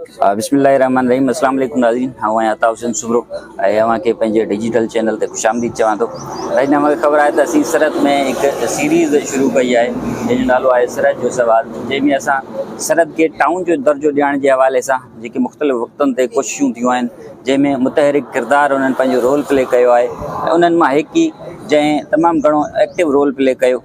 بسم الله الرحمن الرحيم السلام عليڪم ناظرين آئون آهيان عطا حسين سمرو ۽ اوهان کي پنهنجي ڊجيٽل چينل تي خوش آمديد چوان ٿو ناظرين اوهان کي خبر آهي ته اسين سرحد ۾ هڪ سيريز شروع ڪئي آهي جنهن جو نالو آهي سرحد جو سوال جنهن ۾ اسان سرحد کي ٽائون جو درجو ڏيارڻ جي حوالي سان جيڪي مختلف وقتن تي ڪوششون ٿيون آهن جنهن ۾ متحرڪ ڪردار انهن پنهنجو رول پلي ڪيو آهي ۽ انهن مان هڪ ئي جنهن تمام گهڻو ايڪٽو رول پلي ڪيو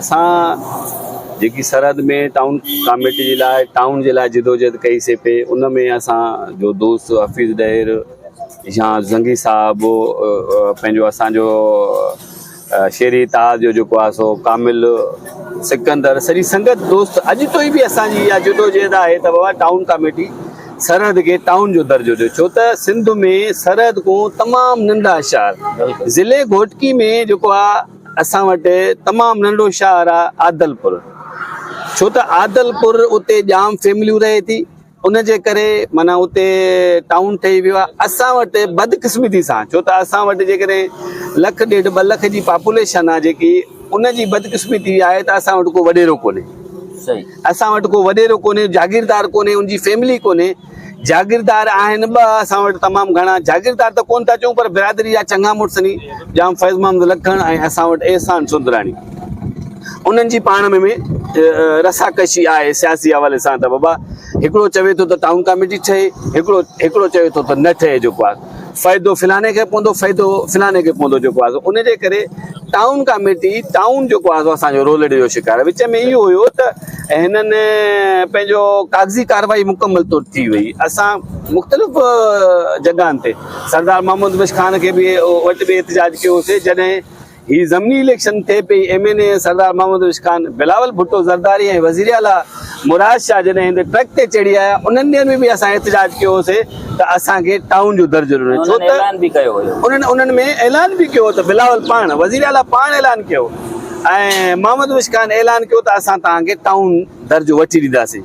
اسان جيڪي سرحد ۾ ٽائون ڪاميٽي جي لاء ٽائون جي لاء جدوجهد ڪئي سي پي ان ۾ اسان جو دوست حفيظ ڏهر يا زنگي صاحب پنهنجو اسانجو شيري اتحاد جو جيڪو آهي سو ڪامل سڪندر سڄي سنگت دوست اڄ تائين به اسان جي اها جدوجهد آهي ته بابا ٽائون ڪاميٽي سرحد کي ٽائون جو درجو ڏيو ڇو ته سنڌ ۾ سرحد کون تمام ننڍا شهر ضلعي گهوٽڪي ۾ جيڪو آهي اسان وٽ تمام ننڍو شهر آ عادلپور ڇو ته عادلپور اتي ڄام فيمليون رهي ٿي ان جي ڪري معنيٰ اتي ٽائون ٺهي ويو آ اسان وٽ بدقسمتي سان ڇو ته اسان وٽ جيڪڏهن لک ڏيڍ ٻه لک جي پاپوليشن آ جيڪي ان جي بدقسمتي آهي ته اسان وٽ ڪو وڏيرو ڪونهي اسان وٽ ڪو وڏيرو ڪونهي جاگيردار ڪونهي ان جي فيملي ڪونهي جاگيردار آهن ٻه، اسان وٽ تمام گهڻا جاگيردار ته ڪونه ٿا چئون پر برادري جا چڱا مڙس ني، ڄام فيض محمد لکڻ ۽ اسان وٽ احسان سوندراڻي. انهن جي پاڻ ۾ ۾ رسا ڪشي آهي سياسي حوالي سان ته بابا هڪڙو چوي ٿو ته ٽائون ڪاميٽي ٺهي، هڪڙو هڪڙو چوي ٿو ته نه ٺهي جيڪو آهي. فائدو فلاڻي کي پوندو فائدو فلاڻي کي پوندو جيڪو آهي ان جي ڪري ٽائون ڪاميٽي ٽائون جيڪو آهي اسان جو رولڙي جو شڪار وچ ۾ اهو هيو ته هنن پنهنجو ڪاغذي ڪارروائي مڪمل طور ٿي وئي اسان مختلف جڳهن تي سردار محمود بخش خان کي به وٽ به احتجاج ڪيوسي جڏهن هي ضمني اليڪشن ٿئي پئي، M N A Sardar Muhammad Urooj Khan, Bilawal Bhutto Zardari ۽ وزير اعليٰ مراد شاهه جڏهن هندي ٽرڪ تي چڙهي آيا انهن ڏينهن ۾ به اسان احتجاج ڪيو هوسي ته اسان کي ٽائون جو درجو ڏنو ڇو ته انهن انهن ۾ اعلان به ڪيو هو ته بلاول پاڻ وزير اعليٰ پاڻ اعلان ڪيو ۽ محمد عروج خان اعلان ڪيو ته اسان توهان کي ٽائون درجو وٺي ڏينداسين.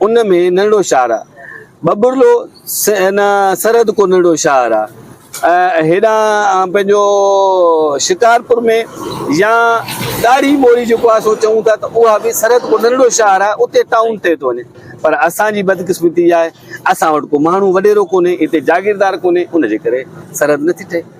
ان ۾ ننڍڙو شهر آ. ٻٻرلو ان سرحد ڪو ننڍڙو شهر آ. هيڏانهن پنهنجو شڪارپور ۾ يا ڏاڙهي موري جيڪو اسان چئون ٿا ته اها به سرحد ڪو ننڍڙو شهر آ اتي ٽائون ٺهي ٿو وڃي پر اسان جي بدقسمتي اها آهي اسان وٽ ڪو ماڻهو وڏيرو ڪونهي هتي جاگيردار ڪونهي ان جي ڪري سرحد نٿي ٺهي.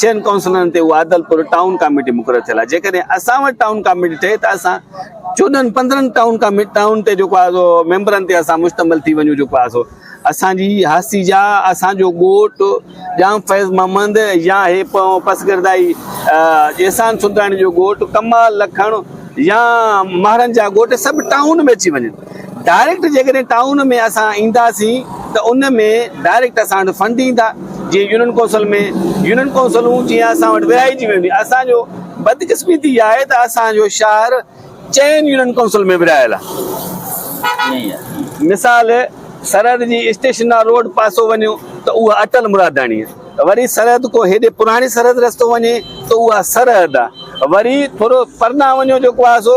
ڇهن ڪائونسلرن تي اها عادلپور ٽائون ڪاميٽي مقرر ٿيل آهي جيڪڏهن اسان وٽ ٽائون ڪاميٽي ٺهي ته اسان چوڏهن پندرهن ٽائون ڪاميٽي ٽائون تي جيڪو آهي سو ميمبرن تي اسان مشتمل ٿي وڃون جيڪو آهي سو اسان جي هاستي جا اسان جو ڳوٺ ڄام فيض محمد يا هي پسگردائي احسان سلطاڻي جو ڳوٺ ڪمال لکڻ يا مهرن جا ڳوٺ سڀ ٽائون ۾ اچي وڃن ڊائريڪٽ جيڪڏهن ٽائون ۾ اسان اينداسين ته ان ۾ ڊائريڪٽ اسان وٽ فنڊ ايندا جيئن يونين ڪونسل ۾ يونين ڪونسلون جيئن اسان وٽ ورهائجي وينديون اسان جو بدقسمتي اها آهي ته اسان جو شهر چئن يونين ڪونسل ۾ ورهايل آهي مثال سرحد جي اسٽيشنا روڊ پاسو وڃو ته اها اٽل مراداڻي آهي وري سرحد ڪو هيڏي پراڻي سرحد رستو وڃي ته اها سرحد آهي وري ٿورو پرنا وڃو جيڪو آهي سو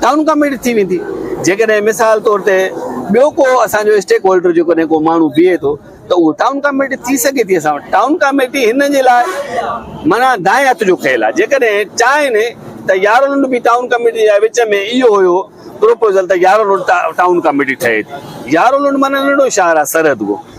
ٽائون ڪاميٽي ٿي ويندي جيڪڏهن مثال طور تي ٻيو ڪو اسان جو اسٽيڪ هولڊر جيڪڏهن ڪو ماڻهو بيهي ٿو ته اهو ٽائون ڪاميٽي ٿي سگهي ٿي اسان وٽ ٽائون ڪاميٽي هن جي لاء معنيٰ دائين هٿ جو کيل آهي جيڪڏهن چاهين ته يارو روڊ به ٽائون ڪاميٽي جي وچ ۾ اهو هيو پروپوزل ته يارو روڊ ٽائون ڪاميٽي ٺهي ٿي يارو روڊ معنيٰ ننڍو شهر آهي سرحد ڪو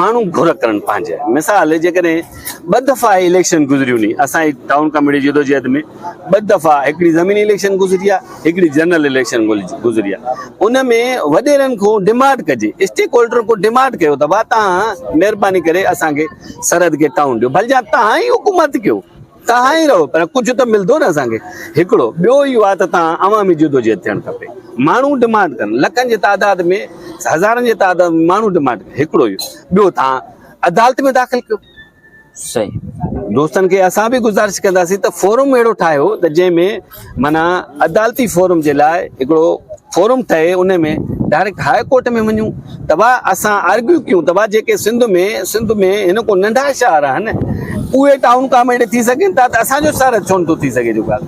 ماڻهو گهر ڪرڻ پنهنجي مثال جيڪڏهن ٻه دفعا اليڪشن گذريون ني اسان جي ٽائون ڪاميٽي جدوجهد ۾ ٻه دفعا هڪڙي زميني اليڪشن گذري آ هڪڙي جنرل اليڪشن گذري آ ان ۾ وڏيرن کون ڊماڊ ڪجي اسٽيڪ هولڊر کون ڊماڊ ڪيو ته ڀا تهان مهرباني ڪري اسان کي سرحد کي ٽائون ڏيو ڀلجان تهان ئي حڪومت ڪيو تهان ئي رهو پر ڪجهه ته ملندو نه اسان کي هڪڙو ٻيو اهو آهي ته تهان عوامي جدوجهد ٿيڻ کپي ماڻهو ڊمانڊ ڪن لکن جي تعداد ۾ هزارن جي تعداد ۾ ماڻهو ڊمانڊ ڪن هڪڙو اهو ٻيو تهان عدالت ۾ داخل ڪيو صحيح دوستن کي اسان به گذارش ڪنداسين ته فورم اهڙو ٺاهيو ته جنهن ۾ معنيٰ عدالتي فورم جي لاء هڪڙو فورم ٺهي ان ۾ ڊائريڪٽ هاء ڪورٽ ۾ وڃون ته واء اسان آرگيو ڪيون ته واء جيڪي سنڌ ۾ سنڌ ۾ هن ڪو ننڍا شهر آهن اهي ٽائون ڪام اهڙي ٿي سگهن ٿا ته اسان جو شهر ڇو نٿو ٿي سگهي جيڪا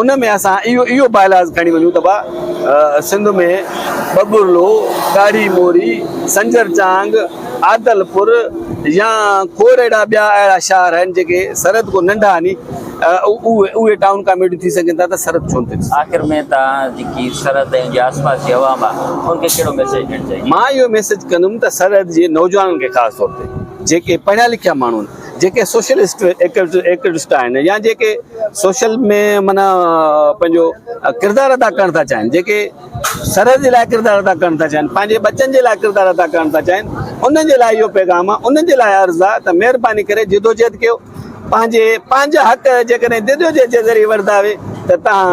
ان ۾ اسان اهو اهو بالاز کڻي وڃون ته واء سنڌ ۾ ٻٻرلو ڳاڙهي موري سنجر چانگ عادلپور يا کور اهڙا ٻيا اهڙا شهر آهن جيڪي سرحد ڪو ننڍا ني اهي ٽائون ڪاميڊي ٿي سگهن ٿا ته سرحد ڇونه ٿي. آخر ۾ توهان جيڪي سرحد ۽ جي آس پاس جي عوام آ ان کي ڪهڙو ميسيج ڏيڻ چاهيندو. مان اهو ميسيج ڪندم ته سرحد جي نوجوانن کي خاص طور تي جيڪي پڙهيا لکيا ماڻهو آهن جيڪي سوشل ايڪٽوسٽا آهن يا جيڪي سوشل ۾ معنيٰ پنهنجو ڪردار ادا ڪرڻ ٿا چاهين جيڪي سرحد جي لاء ڪردار ادا ڪرڻ ٿا چاهين پنهنجي ٻچن جي لاء ڪردار ادا ڪرڻ ٿا چاهين انهن جي لاء اهو پيغام آهي انهن جي لاء عرض آهي ته مهرباني ڪري جدوجهد ڪيو پنهنجي پنهنجا حق جيڪڏهن جدوجهد جي ذريعي وردا وي ته تان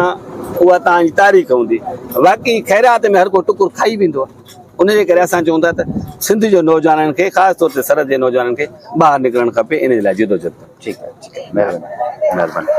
اها تان جي تاريخ هوندي واقعي خيرات ۾ هر ڪو ٽڪر کائي ويندو آهي ان جي ڪري اسان چون ٿا ته سنڌ جو نوجوانن کي خاص طور تي سرحد جي نوجوانن کي ٻاهر نڪرڻ کپي ان جي لاء جدوجهد ٺيڪ آهي مهرباني مهرباني